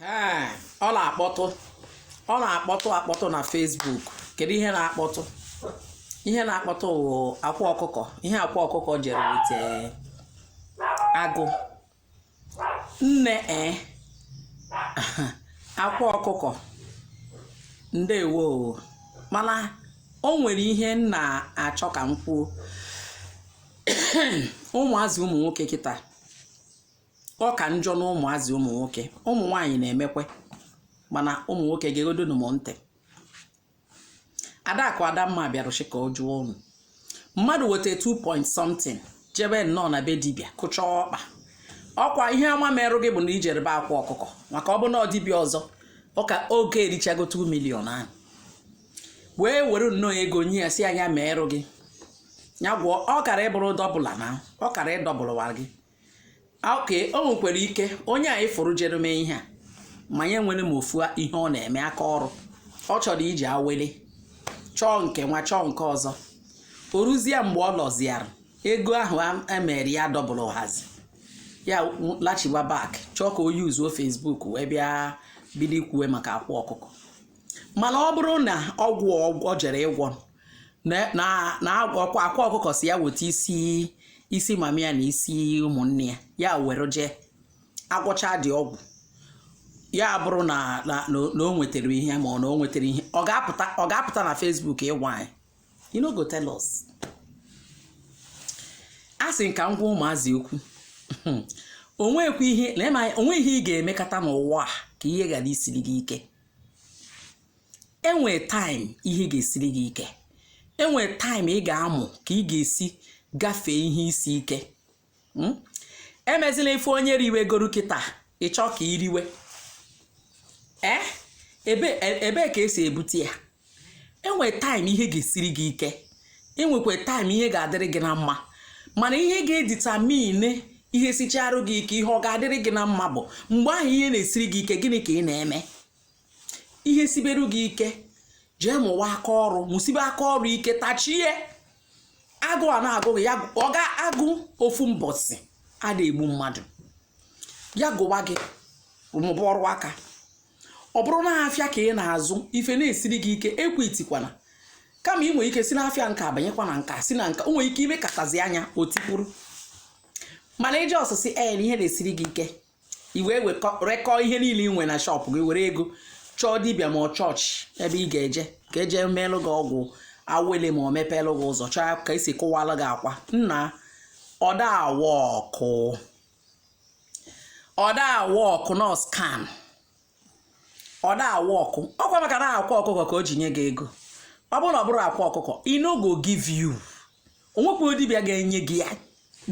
ee ọ na-akpọtụ ọ na-akpọtụ akpọtụ na Facebook kedu ihe na-akpọtụ ihe na-akpọtụ wụ akwa ọkụkọ ihe akwa ọkụkọ jere wete agụ nne e akwa ọkụkọ ndewo o. mana o nwere ihe m na-achọ ka m kwuo ụmụazị ụmụ nwoke kịta ọ ka njọ na ụmụazị ụmụ nwoke ụmụ nwaanyị na-emekwe mana ụmụ nwoke gegodonu m ntị adakụ adamma bịarụchi ka ọ jụọ unu mmadụ weta 2 point something jebe nnọọ na be dibịa kụchaa ọkpa ọkwa ihe ọma merụ gị bụ na i jere be akwa ọkụkọ maka ọ bụ na ọ dibịa ọzọ ọka oge erichago 2 million ahụ wee were nnọọ ego nye ya sị nya merụ gị ya gwọọ ọ kara ịbụrụ dọbụla na ọ kara ịdọbụlụwa gị okay o nwekwara ike onye anyị fụrụ jere mee ihe a ma ya enwere ma ofu ihe ọ na-eme aka ọrụ ọ chọrọ iji awele chọọ nke nwa chọọ nke ọzọ o ruzie mgbe ọ lọziara ego ahụ emere ya double hazi ya lachiwa back chọọ ka o yuzuo Facebook wee bịa bido ikwuwe maka akwa ọkụkọ mana ọ bụrụ na ọgwụ ọ jere ịgwọ na akwa ọkụkọ si ya weta isi mama ya na isi ụmụnne ya ya were jee agwọcha dị ọgwụ ya bụrụ na o nwetara ihe ma ọ na o nwetara ihe ọ ga-apụta na Facebook ịgwa anyị you no go tell us a sị ka m gwa ụmụazị okwu o nwekwa ihe na o nwe ihe ị ga-emekata n'ụwa a ka ihe ghara isiri gị ike enwe time ihe ga-esiri gị ike enwe time ị ga-amụ ka ị ga-esi gafee ihe isi ike hmm? emezila ife onye riwegoro kịta ị chọọ ka i riwe ee eh? ebee ka e si ebute ya enwe time ihe ga-esiri gị ike enwekwa time ihe ga-adịrị gị na mma mana ihe ga-edetermine ihe sicharụ gị ike ihe ọ ga-adịrị gị na mma bụ mgbe ahụ ihe na-esiri gị ike gịnị ka ị na-eme ihe siberu gị ike jee mụwa aka ọrụ mụsibe aka ọrụ ike tachie agụụ na-agụ gị ya agụụ ofu mbọsị ada egbu mmadụ ya gụwa gị mụba ọrụ aka ọ bụrụ na afịa ka ị na-azụ ife na-esiri gị ike ekwitikwana kama ị nwere ike si n'afịa nke a banyekwa na nka si na nka o nwere ike i mekatazi anya o tipụrụ mana iji ọsịsị ee na ihe na-esiri gị ike i wee wekọ- rekọọ ihe niile ị nwere na shop gị were ego chọọ dibịa ma ọ chọọchị ebe ị ga-eje ka e jee meelụ gị ọgwụ awele ma ọ mepeelụ gị ụzọ chọọ ka e si kụwalụ gị akwa nna ọ da awọkụ ọ da a-work na scam ọ da a-work ọ kwa maka na akwa ọkụkọ ka o ji nye gị ego ọ bụrụ na ọ bụrụ akwa ọkụkọ i no go give you o nwekwa dibịa ga-enye gị ya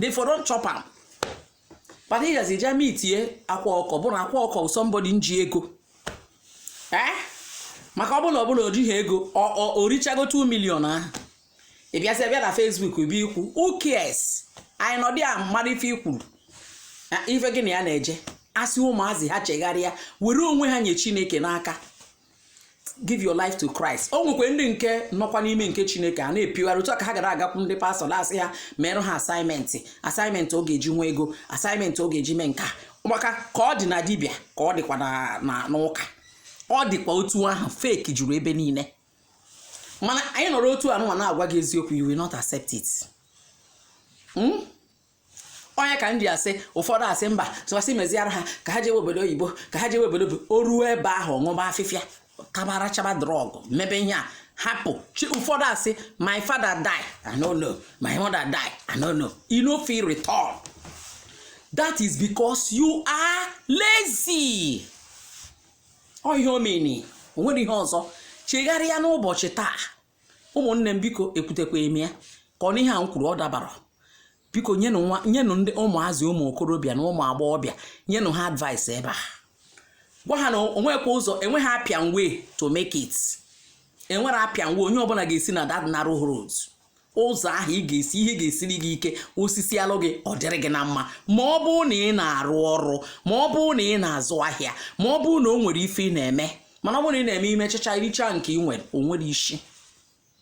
they for don chop am but ị gazi je meetie akwa ọkụkọ bụrụ akwa ọkụkọ somebody nji ego ee eh? maka ọ bụrụ na ọ bụrụ na o jighị ego o richago 2 million ahụ ị bịazi bịa na Facebook bịa ikwu who cares anyị nọdụ ya mmadụ ife i kwuru ife gị na ya na-eje asị ụmụazị ha chegharịa were onwe ha nye Chineke n'aka give your life to Christ o nwekwe ndị nke nọkwa n'ime nke Chineke a na-epiwara otu a ka ha gara agakwu ndị pastọ na-asị ya merụ ha assignment assignment ọ ga-eji nwee ego assignment ọ ga-eji mee nke a maka ka ọ dị na dibịa ka ọ dịkwa n'ụka ọ dịkwa otu ahụ fake juru ebe niile mana anyị nọrọ otu anụnwa na-agwa gị eziokwu you will not accept it hmm? onye ka m ji asị ụfọdụ asị mba tụwasị meziara ha ka ha jewe obodo oyibo ka ha jewe obodo o ruo ebe ahụ ṅụba afịfịa tabara chaba drug mebe ihe a hapụ chi ụfọdụ asị my father die i no know my mother die i no know you no fit return that is because you are lazy ọ ihe omeni o nwere ihe ọzọ chegharịa n'ụbọchị taa ụmụnne m biko ekwutekwa eme ya ka ọ n'ihe a m kwuru ọ dabara biko nyenụ nwa nyenụ ndị ụmụazị ụmụ okorobịa na ụmụ agbọghọbịa nyenụ ha advice ebe a gwa ha na o nwekwa ụzọ enweghị apịan way to make it enwere apịan way onye ọbụla ga-esi na that narrow road ụzọ ahụ ị ga-esi ihe ga-esiri gị ike o sisialụ gị ọ dịrị gị na mma ma ọ bụrụ na ị na-arụ ọrụ ma ọ bụrụ na ị na-azụ ahịa ma ọ bụrụ na o nwere ife ị na-eme mana ọ bụrụ na ị na-eme i mechacha i richa nke ị nwere o nwere isi